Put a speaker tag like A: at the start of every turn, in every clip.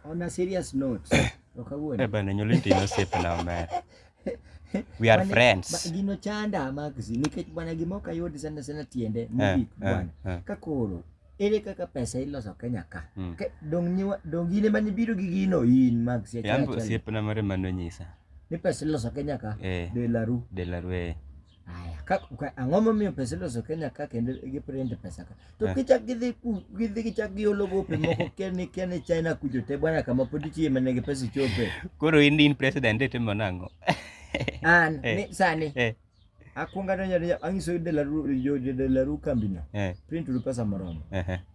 A: On a serious note, ok awuondi. Eh bana
B: nyolo itino osiepe na omer. We are Bwana- friends. ba- Gino chanda
A: Maxi nikech bwana gima ok ayud sana sana tiende mogik eh, bwana. eh. Ka koro ere kaka pesa iloso Kenya ka? Mm. Ke- Dong nyiwa dong gine mane biro gi gino in Maxi achiel Yambo achiel. osiepe na mare mano
B: nyisa. Ni pesa iloso
A: Kenya ka? Eh, De la Rue. de la rue. ang'o momiyo pesa iloso Kenya ka kendo giprint pesa ka to eh. kichak gidhi gidhi gichak giolo gope moko kene kene China kujo te bwana kama pod ichiye mana gi pesa chope koro in in
B: president itimo nang'o an
A: eh. ni sani eh. akwonga donjo donjo ang'iso delaru jo delaru kambi no print uru pesa moromo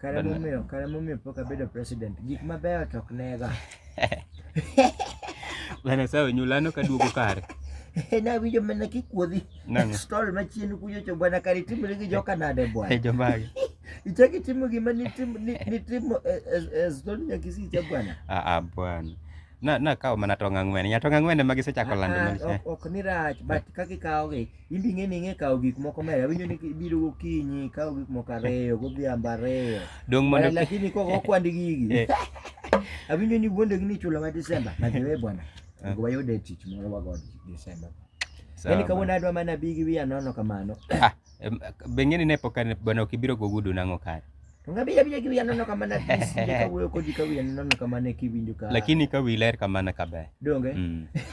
A: Kare momiyo, kare momiyo pok abedo president. Gik mabeyo to ok nega.
B: Bana sawa nyulano kaduogo kare. Nawinjo
A: mana kikuodhi. Stol machien kuyo cho bwana kare timre gi joka nade bwana. Eh, Jomagi.
B: Ichaki timo
A: gima ni timo ni timo eh, eh, stol nyakisi cha bwana. Ah ah bwana.
B: Na na kawo mana tong' ang'wen. Nya tong' ang'wen ema gisechako lando ah, ah, manisha. Ok ni rach but
A: kaka ikawogi in ing'e ni ing'e kawo gik moko maber awinjo ni biro gokinyi kawo gik moko ariyo godhiambo ariyo dong mondo lakini
B: kok okwand
A: gigi eh. awinjo ni wuondegi ni chulo ma Desemba najiwe bwana ah. ngo wayude tich moro wago Desemba yani kawuono adwa mana bi gi wiya nono kamano ah, be
B: ng'eni ne pok bwana ok ibiro gogudu nang'o kare Ngabila bila kiwi
A: anono kama na tisi Jika uwe kodi kawi
B: anono
A: kama
B: ne
A: kiwi njuka Lakini kawi ler
B: kama
A: na kabe Donge mm.